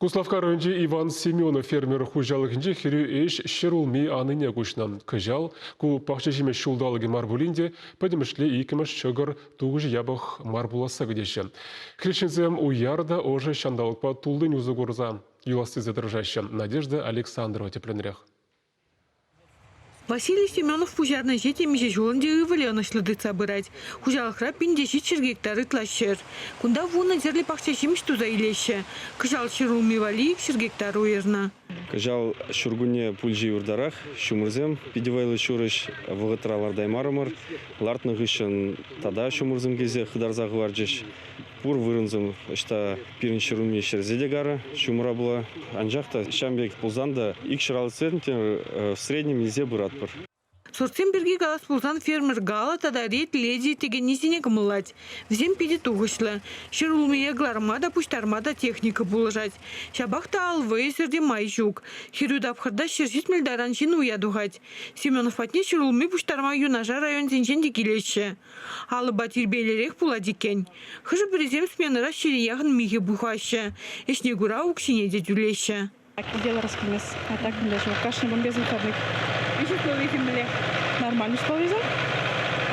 Куславкка районӗнчи Иван Семенов фермер хуҫалӑхӗнчи хӗрӳ ӗҫ ҫӗр улми анине куҫнӑ. Кӑҫал ку пахча ҫимӗҫ ҫулталӑкӗ мар пулин те пӗтӗмӗшле иккӗмӗш ҫӑкӑр тухӑҫӗ япӑх мар пуласса кӗтеҫҫӗ. Хресченсем уяр та ӑшӑ ҫанталӑкпа туллин усӑ курса юлас тесе тӑрӑшаҫҫӗ. Надежда Александрова тӗплӗнрех. Василий Семенов пуҫарнӑ ӗҫе темиҫе ҫулӑн те ывӑлӗ ӑнӑҫлӑ тытса пырать. Хуҫалӑхра пин те ҫичҫӗр гектар ытла ҫӗр. Кунта вунӑ тӗрлӗ пахча ҫимӗҫ туса илеҫҫӗ. Кӑҫал ҫӗр улми валли икҫӗр гектар уйӑрнӑ. Кӑҫал ҫуркунне пулчӗ юртарах. Ҫумӑрсем питӗ вӑйлӑ ҫурӑҫ. Вӑхӑтра лартаймарӑмӑр. Лартнӑ хыҫҫӑн тата ҫумӑрсем килсе хытарса хӑварчӗҫ. Пур вырӑнсем ӑҫта пирӗн ҫӗр умне ҫӗрсе те карӑ ҫумӑра пула. Анчах та ҫam пек пулсан та икҫӗр алӑ центнер в среднем илсе пыратпӑр. Сортсем пирки калас пулсан фермер Гала тата Ред Леди текеннисене кӑмӑллать. Вӗсем питӗ тухӑҫлӑ. Ҫӗр улмие кӑларма та, пуҫтарма та техника пулӑшать. Ҫапах та ал вӑйӗсӗр те май ҫук. Хӗрӳ тапхӑрта ҫӗр ҫитмӗл таран ҫын уя тухать. Семенов патне ҫӗр улми пуҫтарма юнашар районсенчен те килеҫҫӗ. Алӑпа тирпейлӗрех пулать иккен. Хӑшӗ-пӗрисем сменӑра ҫире яхӑн михӗ пухаҫҫӗ, ӗҫне кура укҫине те тӳлеҫҫӗ. Дело раскинес. А так мӗнле шел, кашни бомбезный кадык. Виҫ условийӗ мӗнле? Нормальные условия.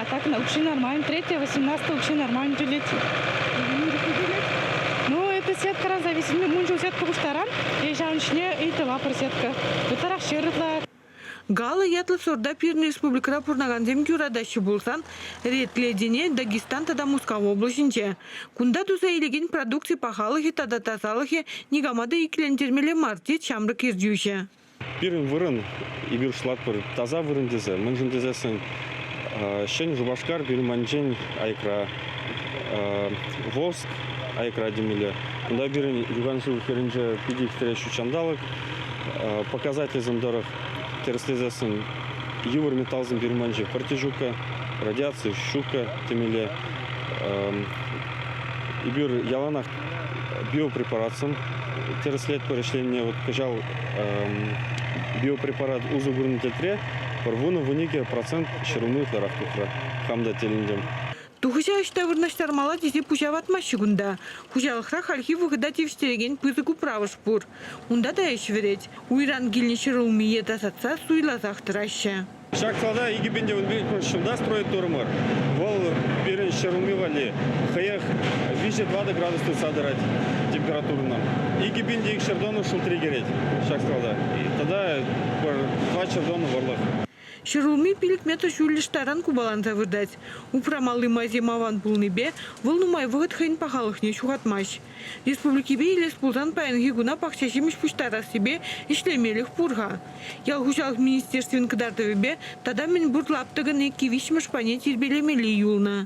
А так на укҫи нормально. Третье, 18 укҫи нормально тӳлет. Ну, это сеткӑран зависимлӗ. Мунчул сетка пуҫтаран, е ҫавӑн ҫине ыйтӑва пӗр сетка. Ытларах ҫыр ытла Гала ятлӑ сорта пирӗн республикӑра пурӑнакансем юратаҫҫӗ пулсан, редледине Дагестан тата Мускав облаҫӗнче. Кунта туса илекен продукци пахалӑхӗ тата тасалӑхӗ никама та иккӗлентермелле мар, тет ҫамрӑк ертӳҫӗ. Пирӗн вырӑн, эпир шутлатпӑр, таса вырӑн тесе. Мӗншӗн тесессӗн Ҫӗн Шупашкар пирманчен аякра Волжск, аякра темелле. Кунта пирӗн юхан шыв хӗрринче питӗ ӳстереҫҫӗ ҫанталӑк. показательсем тӑрӑх тӗрӗслесессӗн йывӑр металлсем пирманчи кортежука, радиаци щука темелле. Эпир яланах биопрепаратсем тӗрӗслетпӗр ӗҫленине вот кӑҫал биопрепарат усӑ курнӑ тӗлӗшре пӗр вунӑ-вун икӗ процент ҫӗр улми ытларах тухрӗ хам та тӗлӗнтӗм. Тухӑҫа ӑҫта вырнаҫтармалла тесе пуҫа ватмаҫҫӗ кунта. Хуҫалӑхра хальхи вӑхӑта тивӗҫтерекен пысӑк управӑш пур. Унта та ӗҫ вӗрет. Уйран килнӗ ҫӗр улмие тасатса суйласах тӑраҫҫӗ. Ҫак салада икӗ пин тӗвӗн пилӗкмӗш ҫулта строительторӑмӑр. Вӑл пирӗн ҫӗр улми валли хӑех виҫӗ-тӑватӑ градус тытса тӑрать температурӑна. Икӗ пин икҫӗр тонна шултри кӗрет ҫак сада. Тата пӗр тӑватҫӗр тонна вӑрлӑх. Ҫӗрулми пилӗк метр ҫӳллӗш таран купаланса выртать. Упрамалли майсем аван пулнипе вӑл нумай вӑхӑт хӑйӗн пахалӑхне ҫухатмасть. Республикипе илес пулсан паянхи куна пахча ҫимӗҫ пуҫтарассипе ӗҫлемелӗх пур-ха. Ял хуҫалӑх министерствин кӑтартӑвӗпе тата мӗн пур лаптӑкӑн иккӗ-виҫҫӗмӗш пайне тирпейлемелли юлнӑ.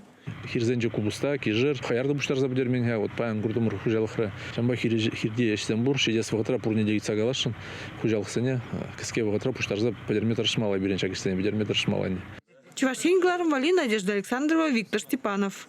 хирсенче купӑста, кишӗр, хӑяр та пуҫтарса пӗтермен-ха. Вот паян куртӑмӑр хуҫалӑхра. Ҫавӑнпа хирти ӗҫсем пур. Ҫитес вӑхӑтра пурне те ыйтса каласшӑн хуҫалӑхсене. Кӗске вӑхӑтра пуҫтарса пӗтерме тӑрӑшмалла пирӗн ҫак ӗҫсене, пӗтерме тӑрӑшмалла ӗнтӗ. Чӑваш Ен кӑлармалли Надежда Александрова, Виктор Степанов.